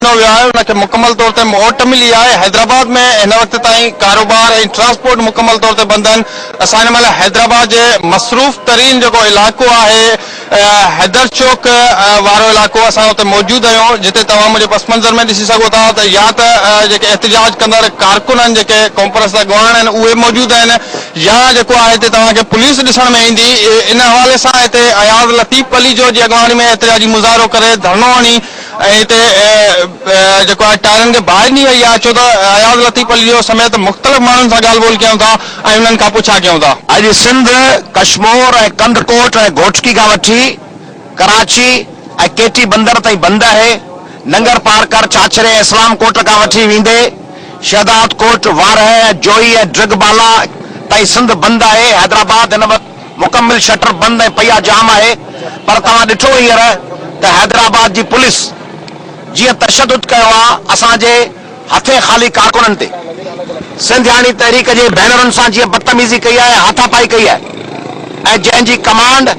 ڏنو ويو آهي ان کي مڪمل طور تي موٽ ملي آهي حيدرآباد ۾ هن وقت تائين ڪاروبار ۽ ٽرانسپورٽ مڪمل طور تي بند آهن اسان هن مهل حيدرآباد جي مصروف ترين جيڪو علائقو آهي حيدر چوڪ وارو علائقو اسان اتي موجود آهيون جتي توهان منهنجي پس منظر ۾ ڏسي سگهو ٿا ته يا ته جيڪي احتجاج ڪندڙ ڪارڪن آهن جيڪي ڪانفرنس جا اڳواڻ آهن اهي موجود آهن يا جيڪو آهي هتي توهان کي پوليس ڏسڻ ۾ ايندي ان حوالي سان هتي اياز لطيف پليجو جي اڳواڻي ۾ احتجاجي مظاهرو ڪري ڌرڻو هڻي ۽ هتي جيڪو آهي ٽائرن کي باهه ڏني وئي آهي ڇو ته اياز لطيف علي جو سميت مختلف ماڻهن سان ڳالهه ٻولهه ڪيون ٿا ۽ انهن کان پڇا ڪيون ٿا. اڄ سنڌ، ڪشمور ۽ ڪنڌڪوٽ ۽ گهوٽڪي کان وٺي ڪراچي ۽ ڪي ٽي بندر تائين بند آهي، ننگر پارڪر، ڇاڇري ۽ اسلام ڪوٽ کان وٺي ويندي شهدادڪوٽ، وارهه، جوئي ۽ ڊرگبالا تائين سنڌ بند آهي، حيدرآباد هن وقت. مڪمل شٽر بند ۽ پئي آ جام آهي پر توهان ڏٺو هينئر ته حيدرآباد جي پوليس جيئن تشدد ڪيو آ اسان جي هٿين خالي ڪارڪنن تي سنڌياڻي تحريڪ جي ڀينرن سان جيئن بدتميزي ڪئي آهي هاٿا پائي ڪئي آهي ۽ جنهن جي ڪمانڊ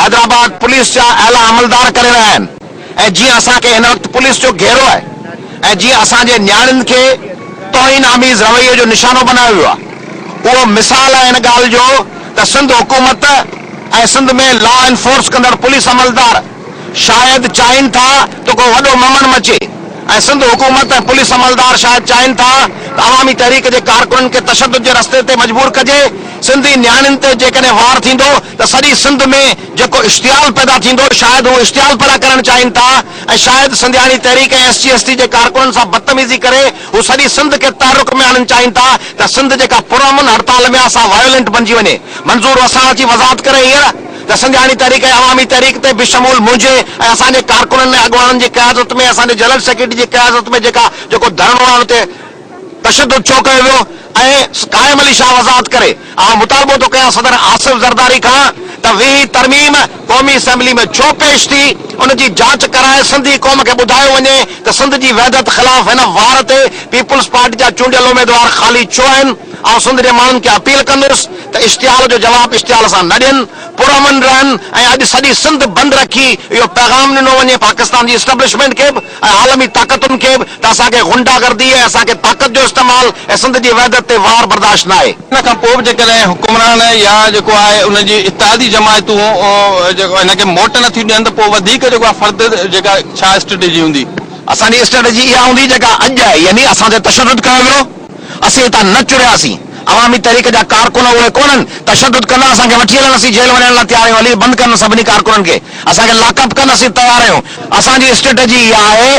حيدرآباد پوليس جا اعليٰ عملدار ڪري رهيا آهن. ۽ جيئن اسان کي هن وقت پوليس جو گهيرو آهي ۽ جيئن اسان جي نياڻين کي توهين آميز رويي جو نشانو بنايو ويو آهي اهو مثال آهي ان ڳالهه جو ته سنڌ حڪومت ۽ سنڌ ۾ لا انفورس ڪندڙ پوليس عملدار شايد چاهين ٿا ته ڪو وڏو ممڻ مچي ۽ سنڌ حڪومت ۽ پوليس عملدار شايد چاهين ٿا ته عوامي تحريڪ جي ڪارڪنن کي تشدد جي رستي تي مجبور ڪجي سنڌي نياڻين تي جيڪڏهن وار ٿيندو ته سڄي سنڌ ۾ جيڪو اشتعال پيدا ٿيندو، شايد هو اشتعال پيدا ڪرڻ چاهين ٿا ۽ شايد Sindhiani Tehreek ۽ S C S T جي ڪارڪنن سان بدتميزي ڪري هو سڄي سنڌ کي تحرڪ ۾ آڻڻ چاهين ٿا ته سنڌ جيڪا پرامن هڙتال ۾ آ سا وائولينٽ بنجي وڃي منظور وساڻ اچي وضاحت ڪري هينئر ته سنڌياڻي تحريڪ ۽ عوامي تحريڪ تي بشمول منهنجي ۽ اسان جي ڪارڪنن ۽ اڳواڻن جي قيادت ۾ ۽ اسان جي جنرل سيڪريٽري جي قيادت ۾ جيڪا جيڪو ڌرڻو آ ان تي تشدد ڇو ڪيو ويو ۽ قائم علي شاهه وضاحت ڪري، آئون مطالبو ٿو ڪيان صدر آصف زرداري کان ته ويهين ترميم قومي اسيمبلي ۾ ڇو پيش ٿي، ان جي جاچ ڪرائي سنڌي قوم کي ٻڌايو وڃي ته سنڌ جي وحدت خلاف هن وار تي پيپلز پارٽي جا چونڊيل اميدوار خالي ڇو آهن، آئون سنڌ جي ماڻهن کي اپيل ڪندس ته اشتعال جو جواب اشتعال سان نه ڏين، پرامن رهن ۽ اڄ سڄي سنڌ بند رکي اهو پيغام ڏنو وڃي پاڪستان جي اسٽبلشمينٽ کي به. ۽ عالمي طاقتن کي به ته اسان کي غنڊا گردي ۽ اسان کي طاقت جو استعمال ۽ سنڌ جي وحدت تي وار برداشت ناهي. ان کان پوء به جيڪڏهن حڪمران يا جيڪو آهي ان جي اتحادي جماعتون جيڪو هن کي موٽ نه ٿيون ڏين ته پوء وڌيڪ جيڪو آهي فرد جيڪا ڇا اسٽريٽجي هوندي؟ اسان جي اسٽريٽجي اها هوندي جيڪا اڄ آهي يعني اسان تي تشدد ڪيو ويو، اسين هتان نه چرياسين، عوامي تحريڪ جا ڪارڪن اهي ڪونهن، تشدد ڪندا اسان کي وٺي هلن، اسين جيل وڃڻ لاء تيار آهيون علي بند ڪرن سڀني ڪارڪنن کي. اسان کي لاڪ اپ ڪن اسين تيار آهيون. اسان جي اسٽريٽجي اها آهي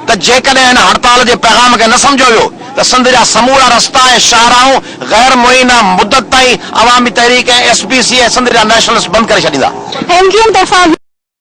ته جيڪڏهن هن هڙتال جي پيغام کي نه سمجهيو ويو ته سنڌ جا سمورا رستا ۽ شاهراهون غير معينه مدت تائين Awami Tehreek ۽ S P C ۽ Sindh جا نيشنلسٽ بند ڪري ڇڏيندا. ايم ڪيو ايم طرفان.